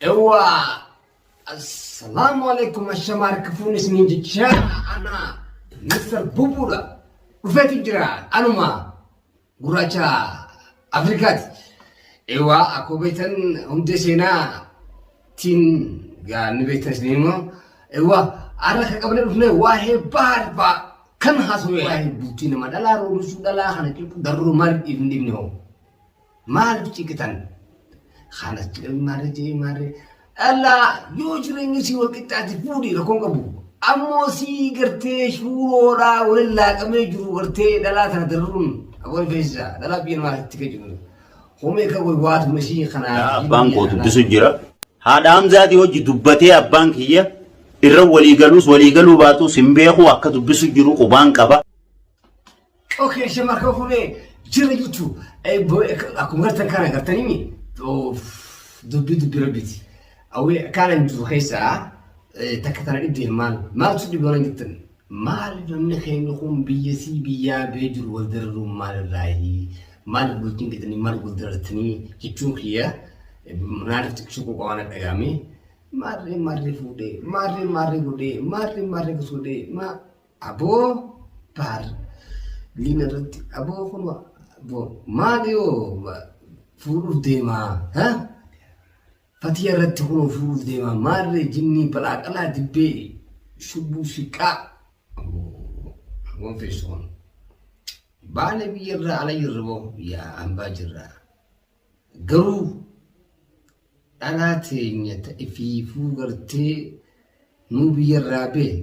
Ewa Assalamu alaikum ashama harka fuun isiniin jechaa ana Mr. Bubuudha dhufeeti jira anuma gurraacha Afrikaati. Ewa akkoo beektan hundee seenaa tiin gaa ni beektan isin immoo ewa har'a kan qabne dhufne waa'ee bahaar ba'a kan haasawee waa'ee bultii nama dhalaa roobisuu dhalaa kana cuucu darroo maaliif dhiifni dhiifni hoo. Maalif ciqitan? Kaanas jedhanii maarree jedhanii maarree. Dhallaa yoo jireenyi sii wal qixxaate fuudhii rakkoon qabu. Ammoo sii gartee shuuroodhaa waliin laaqamee jiru gartee dhalaa tana darruun aboo rifeensa dhalaa biyya namaa itti kan jiru. Homee kan wayii waatu mashii kanaa. Abbaan koo dubbisu jira. Haadha Hamzaati hojii dubbatee abbaan kiyya irra walii galuus walii galuu baatus hin beeku akka dubbisu jiru qubaan qaba. Okay, shema kan fuudhee jira jechuun akkuma gartan kana gartanii mi dubbii dubbii rabbiiti. Awwee kanan jiru keessaa takka tana dhibdee maal maaltu dhibee waan jettan maal namni keenya kun biyya sii biyyaa bee jiru wal dararuun maal irraayi maal bultiin jedhanii maal wal darartanii jechuun kiyya naannoo xiqqisuu qofa waan dhagaame maarree maarree fuudhee maarree maarree godhee maarree maarree fuudhee maa. Aboo baar liina irratti aboo kun aboo maali yoo fuudhuuf deemaa ha? Fatiya irratti kun fuudhuuf deemaa maarree jinnii balaaqalaa dibbee shubbuu siqqaa aboo aboo feessuun baala biyya irraa ala jirra boo yaa hambaa jirraa. Garuu dhalaa teenya ta ifiifuu gartee nuu biyya irraa bee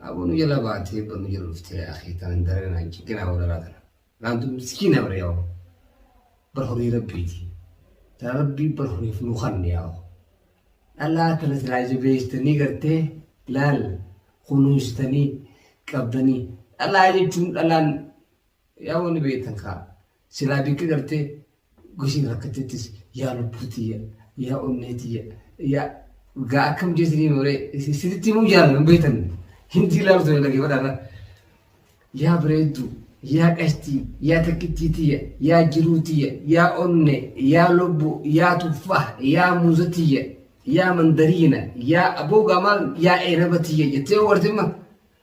aboo nu jala baatee bar nu jala dhuftee yaa akii tanan daree naan ciqinaa wal dhalaa tana naan tun miskiina bar yaa bar horii rabbiiti tana rabbii bar horiif nu kanne yaa dhalaa tana silaa jabeessitanii gartee laal kunuunsitanii qabdanii dhalaa jechuun dhalaan yaa wani beektan kaa Silaa bikki gartee goshiin rakkattettis yaa lubbuu tiyya yaa onnee tiyya yaa gaa akkam jeetanii nooree isinitti himuu jaalan hin beektan hindi ilaalu ture dhaggeeffadhaarra yaa bareeddu yaa qashtii yaa takkittii tiyya yaa jiruu tiyya yaa onnee yaa lubbuu yaa tuffaa yaa muuza tiyya yaa mandariina yaa aboogaa maal yaa eenaba tiyya jettee yoo wartimma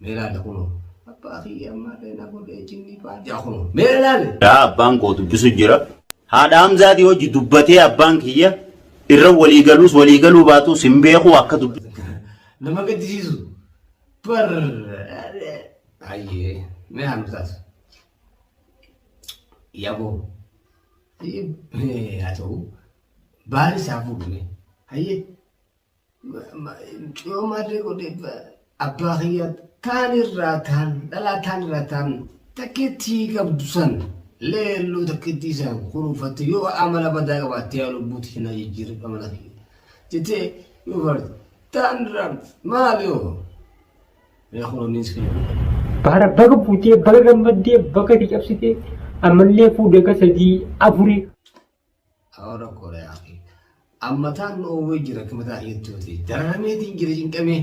Mee laala kunoo. Abbaa kiyya ammaallee na godhee jinnii baajaa kunoo. Mee laale. Yaa abbaan koo dubbisu jira. Haadha Hamzaatii hojji dubbatee abbaan kiyya irra walii galuus walii galuu baatuus hin beekuu akka dubbisu. Nama gaddisiisu. Bar. Ayyee. Mee haa nu taatu. Yaboo. Ayyee. Haa ta'u. Baari isaa fuudhame. Ayyee. Mucayyoo maarree godhe abbaa kiyyaa taan irraa taan dhalaa taan irraa taan takkeettii qabdu san leelluu takkeettii isaan kunuunfatte yoo amala badaa qabaatte yaa lubbuutti hin ajijjiirre amala kiyya jettee yoo barte taan irraa maal yoo yaa kunuuniis kiyya. Baara baga buutee baga gammaddee baga itti cabsitee ammallee fuudhee akka sadii afurii Awara Korea fi ammataan Noorwee jira kimataa jettuuti. Dararameetiin jira cinqamee.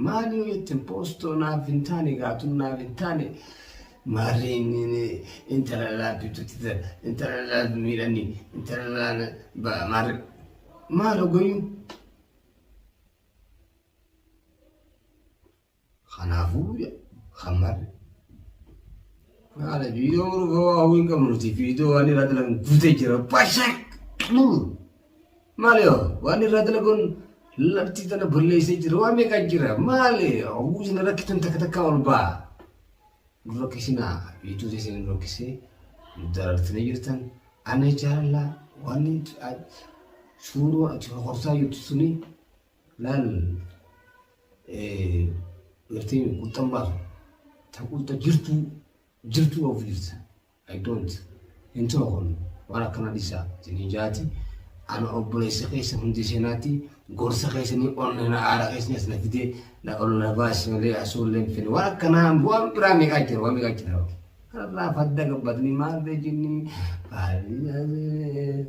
Maal yoo jettin poostoo naaf hin taane gaatun naaf hin taane maarree inni inni intala laafitutti ta- intala laaf miidhani intala laal ba- maarree maal hogoyuun Kanaafuu Muhammad haala viidiyoo muruuf waa hin qabnu nuti viidiyoo waan irraa dalagan guutee jira bashak nuur maali hoo waan irraa dalagan lafti tana balleessee jira waan meeqaa jira maali oguu isin rakkitan takka takka ol ba'a nu rakkisinaa viidiyoo teessan nu rakkisee nu darartanii jirtan ana jaalala waan suuraa ati horsaa jirtu suni Laal gartee quxxan baaf ta quxxa jirtuu jirtuu of jirta I don't hin ta'u kun waan akkana dhisaa jedhee jaati ana obboleessa keessa hundi seenaatti gorsa keessanii ol na aara keessaniis na fidee na ol na baasi malee asuu illee hin fedhe waan akkanaa bu'aan biraa meeqaa jira waan meeqaa jira kanarraa fadda gabbatanii maal beekinni baay'ee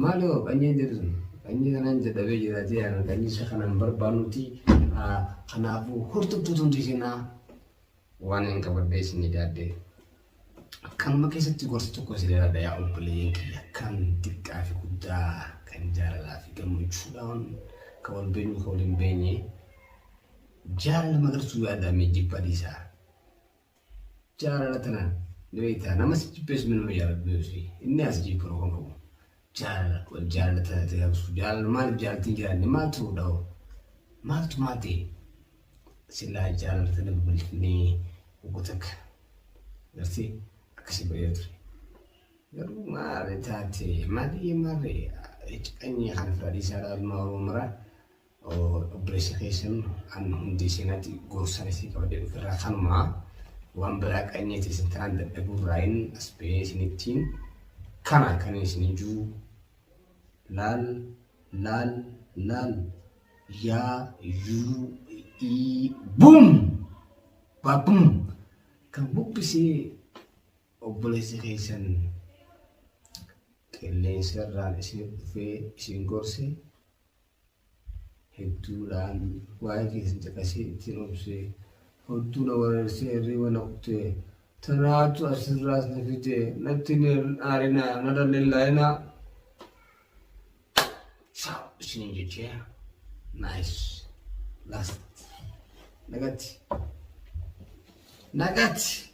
Maaloo qanyeen jedhu sun qanyii kanaan dadhabee jira jee ana qanyii isa kanaan barbaanuti kanaafuu hortuttuu tun dhiisinaa waan hin qabadde isin idaadde kanuma keessatti gorsa tokko isin idaadha yaa obboleeyyan kiyya kan xiqqaa fi guddaa kan jaalalaa fi gammachuudhaan kan wal beenyu kan wal hin beenye jaalala magartuu yaadame jibba dhiisaa. Jaalala tanaan ni beektaa nama si jibbees minuma jaalatu beeksisi inni as jibbira kun qabu jaalala wal jaalala tana ta'e absu jaalala maal jaaltiin jaalatti maal ta'uu dhahu maaltu maal ta'e sillaa jaalala tana babal'ifnee wagga takka garsee akkasii ba'ee ture. Garuu maali taate maali maali ciqanii kan fadhiisaa ilmaa oromoo maraa. Obboleessa keessan an hundi isinati gorsan isin qabadee dhuferraa kanumaa waan biraa qanyee teessan tanaan dadhabuurraayin as ba'ee isinittiin kana kan isin ijuu laal laal laal yaa yuu ii buum baabum kan buqqisee obboleessa keessan qilleensa irraan isin dhufee isin gorse hedduudhaan waa'ee keessan caqasee ittiin obsee hodtuu na wareersee hirriiba na kutee tanaatu asirraas na fidee natti hin aarinaa narra hin laayinaa saa isin jechee naayis laast nagatti nagatti.